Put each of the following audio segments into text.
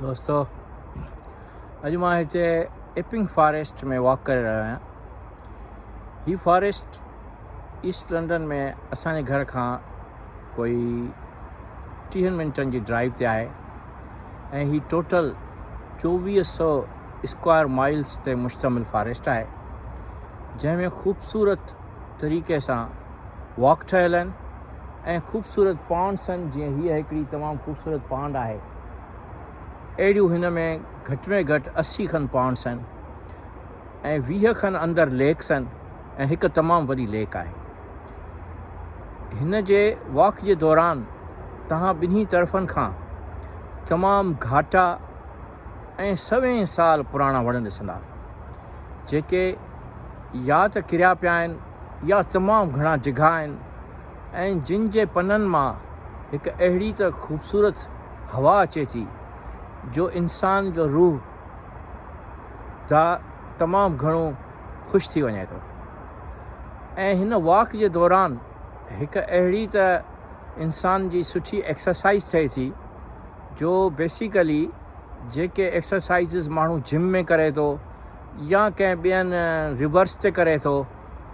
دوستو اڄ مان هتي اپنگ فاريسٽ ۾ واڪ ڪري رهيو آهيان هي فاريسٽ ايسٽ لنڊن ۾ اسانجي گهر کان ڪوئي ٽيهن منٽن جي ڊرائيو تي آهي ۽ هي ٽوٽل چوويهه سو اسڪوائر مائلز تي مشتمل فاريسٽ آهي جنهن ۾ خوبصورت طريقي سان واڪ ٺهيل آهن ۽ خوبصورت پانڊس آهن جيئن هيء هڪڙي تمام خوبصورت پانڊ آهي اهڙيون هن ۾ گهٽ ۾ گهٽ اسي کن پانڊس آهن ۽ ويهه کن اندر ليڪس آهن ۽ هڪ تمام وڏي ليڪ آهي هن جي واڪ جي دوران توهان ٻنهي طرفن کان تمام گهاٽا ۽ سوين سال پراڻا وڻ ڏسندا، جيڪي يا ته ڪريا پيا آهن يا تمام گهڻا ڊگها آهن ۽ جن جي پنن مان هڪ اهڙي ته خوبصورت هوا اچي ٿي، جو انسان جو روح ڌاء تمام گهڻو خوش ٿي وڃي ٿو ۽ هن واڪ جي دوران هڪ اهڙي ته انسان جي سٺي ايڪسرسائيز ٿئي ٿي. جو بيسيڪلي جيڪي ايڪسرسائيزز ماڻهو جم ۾ ڪري ٿو يا ڪنهن ٻين ريورس تي ڪري ٿو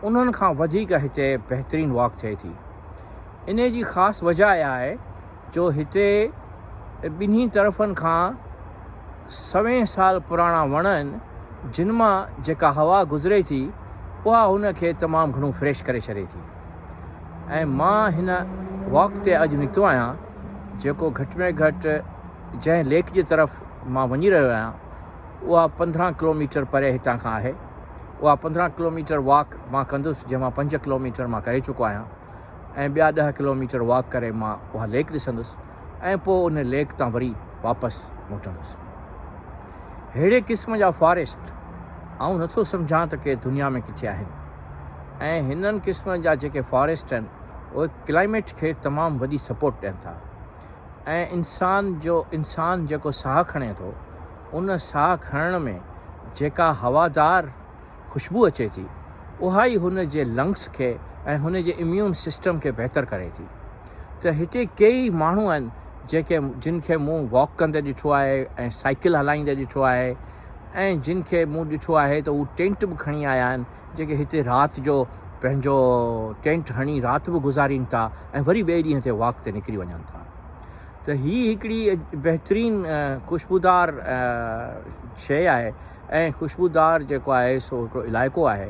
انهن کان وڌيڪ هتي بهترين واڪ ٿئي ٿي انهي جي خاص وجهه اها آهي جو هتي ٻنهي طرفن کان سوين سال پراڻا وڻ آهن جن مان جيڪا هوا گذري ٿي اها هن کي تمام گهڻو فريش ڪري ڇڏي ٿي. ۽ مان هن واڪ تي اڄ نڪتو آهيان جيڪو گهٽ ۾ گهٽ جنهن ليڪ جي طرف مان وڃي رهيو آهيان اها پندرهن ڪلوميٽر پري هتان کان آهي اها پندرهن ڪلوميٽر واڪ مان ڪندس جنهن مان پنج ڪلوميٽر مان ڪري چڪو آهيان ۽ ٻيا ڏهه ڪلوميٽر واڪ ڪري مان اها ليڪ ڏسندس ۽ پوء ان ليڪ تان وري واپس موٽندس ههڙي قسم جا فاريسٽ آئون نٿو سمجهان ته ڪي دنيا ۾ ڪٿي آهن ۽ هنن قسمن جا جيڪي فاريسٽ آهن اهي ڪلائميٽ کي تمام وڏي سپورٽ ڏين ٿا ۽ انسان جو انسان جيڪو ساهه کڻي ٿو ان ساهه کڻڻ ۾ جيڪا هوادار خوشبو اچي ٿي اها ئي هن جي لنگس کي ۽ هن جي اميون سسٽم کي بهتر ڪري ٿي ته هتي ڪيئي ماڻهو آهن جيڪي جن کي مون واڪ ڪندي ڏٺو آهي ۽ سائيڪل هلائيندي ڏٺو آهي ۽ جن کي مون ڏٺو آهي ته هو ٽينٽ به کڻي آيا آهن جيڪي هتي رات جو پنهنجو ٽينٽ هڻي رات به گذارين ٿا ۽ وري ٻئي ڏينهن تي واڪ تي نڪري وڃن ٿا ته هي هڪڙي بهترين خوشبودار شيء آهي ۽ خوشبودار جيڪو آهي سو هڪڙو علائقو آهي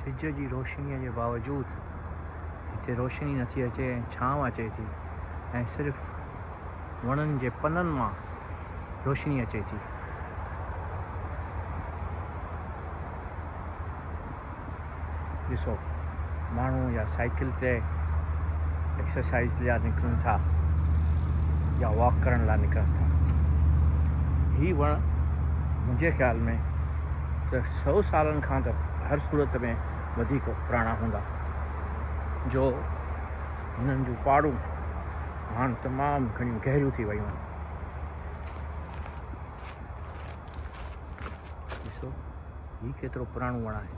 سج جي روشنيء جي باوجود هتي روشني نٿي اچي ۽ ڇانو اچي ٿي ۽ صرف وڻن جي پنن مان روشني اچي ٿي. ڏسو ماڻهو يا سائيڪل تي ايڪسرسائيز لاء نڪرن ٿا يا واڪ ڪرڻ لاء نڪرن ٿا. هي وڻ منهنجي خيال ۾ ته سؤ سالن کان ته هر صورت ۾ وڌيڪ پراڻا هوندا، جو هنن جون پاڙون هاڻ تمام گهڻيون گهريون ٿي ويون آهن. ڏسو هي ڪيترو پراڻو وڻ آهي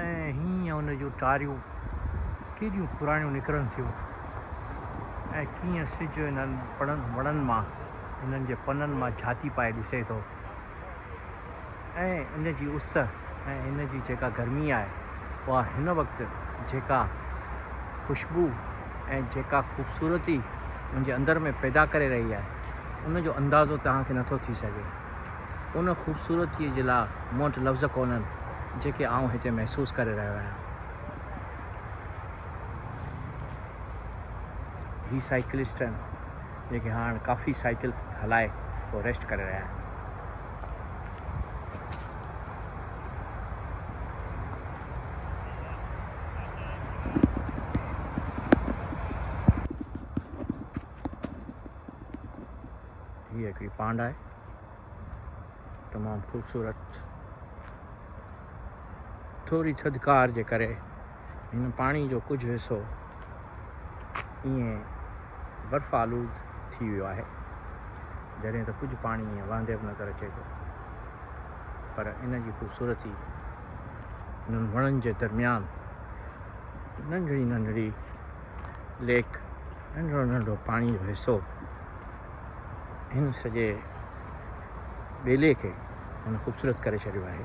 ۽ هينئن ان جون ٽاريون ڪيڏيون پراڻيون نڪرن ٿيون ۽ ڪيئن سج انهن پڙن وڻن مان انهن جي پنن مان جهاتي پائي ڏسي ٿو. ۽ ان جي اس ۽ ان جي جيڪا گرمي آهي اها هن وقت جيڪا خوشبو ۽ جيڪا خوبصورتي منهنجي اندر ۾ پيدا ڪري رهي آهي ان جو اندازو توهان کي نٿو ٿي سگهي ان خوبصورتي جي لاء مون وٽ لفظ ڪونهن جيڪي آئون هتي محسوس ڪري رهيو آهيان هي سائيڪلسٽن جيڪي هاڻ ڪافي سائيڪل هلائي پوء ريسٽ ڪري رهيا آهن. هي هڪڙي پانڊ آهي تمام خوبصورت ٿوري ٿڌڪار جي ڪري هن پاڻي جو ڪجهه حصو ائين برف آلود ٿي ويو آهي جڏهن ته ڪجهه پاڻي ائين وهندي به نظر اچي ٿو پر ان جي خوبصورتي انهن وڻن جي درميان ننڍڙي ننڍڙي ليڪ ننڍڙو ننڍڙو پاڻي جو حصو هن سڄي ٻيلي کي هن خوبصورت ڪري ڇڏيو آهي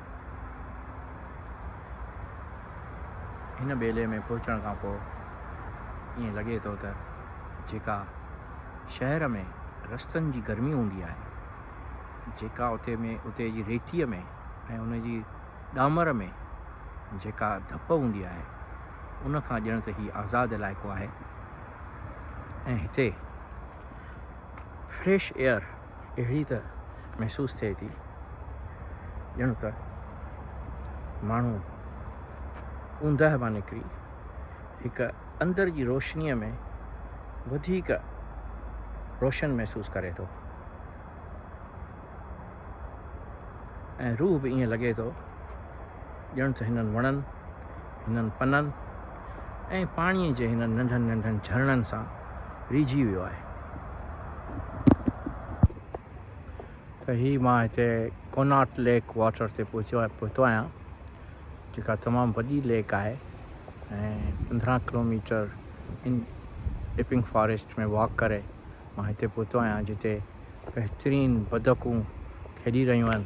هن ٻيلي ۾ پهچڻ کان پوء ائين لڳي ٿو ته جيڪا شهر ۾ رستن جي گرمي هوندي آهي، جيڪا اتي ۾ اتي جي ريتيء ۾ ۽ ان جي ڏامر ۾ جيڪا ڌپ هوندي آهي، ان کان ڄڻ ته هي آزاد علائقو آهي ۽ هتي فريش ايئر اهڙي ته محسوس ٿئي ٿي ڄڻ ته ماڻهو اوندهه مان نڪري هڪ اندر جي روشنيء ۾ وڌيڪ روشن محسوس ڪري ٿو ۽ روح به ائين لڳي ٿو ڄڻ ته هنن وڻن هنن پنن ۽ پاڻيء جي هنن ننڍن ننڍن جهرڻن سان ريجهي ويو آهي. ته هي مان هتي ڪوناٽ ليڪ واٽر تي پهتو آهيان، جيڪا تمام وڏي ليڪ آهي ۽ پندرهن ڪلوميٽر ان ڊپنگ فاريسٽ ۾ واڪ ڪري مان هتي پهتو آهيان، جتي بهترين بدڪون کيڏي رهيون آهن.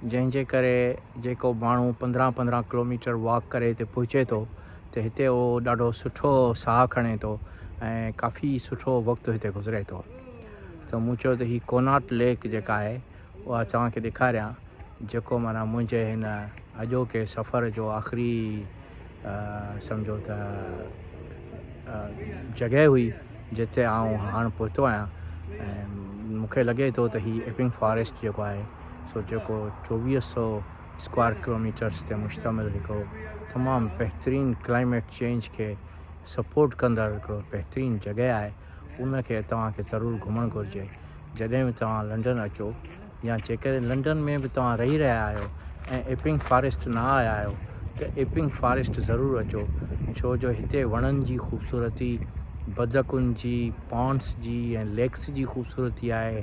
جنهن جي ڪري جيڪو ماڻهو پندرهن پندرهن ڪلوميٽر واڪ ڪري هتي پهچي ٿو ته هتي اهو ڏاڍو سٺو ساهه کڻي ٿو ۽ ڪافي سٺو وقت هتي گذري ٿو ته مون چيو ته هي ڪوناٽ ليڪ جيڪا آهي اها توهان کي ڏيکاريان جيڪو مانا منهنجي هن اڄوڪي سفر جو آخري سمجهو ته جڳهه هئي جتي آئون هاڻ پهتو آهيان ۽ مون کي لڳي ٿو ته هي ايپنگ فاريسٽ جيڪو آهي سو جيڪو چوويهه سو اسڪوائر ڪلوميٽرس تي مشتمل هڪڙو تمام بهترين ڪلائميٽ چينج کي سپورٽ ڪندڙ هڪڙو بهترين جڳهه آهي ان کي توهان کي ضرور گهمڻ گهرجي جڏهن به توهان لنڊن اچو يا جيڪڏهن لنڊن ۾ به توهان رهي رهيا آهيو ۽ ايپنگ فاريسٽ نه آيا آهيو ته ايپنگ فاريسٽ ضرور اچو ڇو جو هتي وڻن جي خوبصورتي، بدڪن جي، پانڊس جي ۽ ليڪس جي خوبصورتي آهي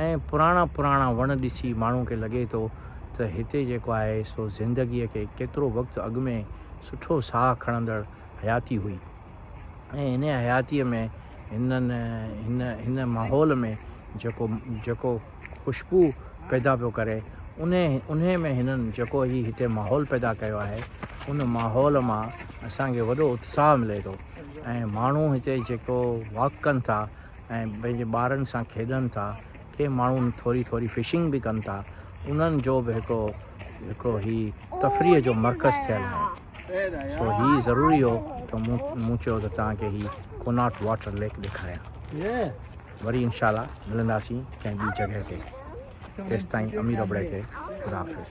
۽ پراڻا پراڻا وڻ ڏسي ماڻهو کي لڳي ٿو ته هتي جيڪو آهي سو زندگي کي ڪيترو وقت اڳ ۾ سٺو ساهه کڻندڙ حياتي هئي. ۽ هن حياتيء ۾ هنن هن هن ماحول ۾ جيڪو جيڪو خوشبو پيدا پيو ڪري انهي انهي ۾ هنن جيڪو هي هتي ماحول پيدا ڪيو آهي ان ماحول مان اسان کي وڏو اتساهه ملي ٿو ۽ ماڻهو هتي جيڪو واڪ ڪن ٿا ۽ پنهنجي ٻارن سان کيڏن ٿا ڪي ماڻهو ٿوري ٿوري فشنگ به ڪن ٿا انهن جو به هڪڙو هڪڙو هي تفريح جو مرڪز ٿيل آهي سو هي ضروري هو ته مون چيو ته توهان کي هي ڪوناٽ واٽر ليڪ ڏيکاريان وري انشاء الله ملنداسين ڪنهن ٻي جڳهه تي تيستائين امير ابڙي کي خدا حافظ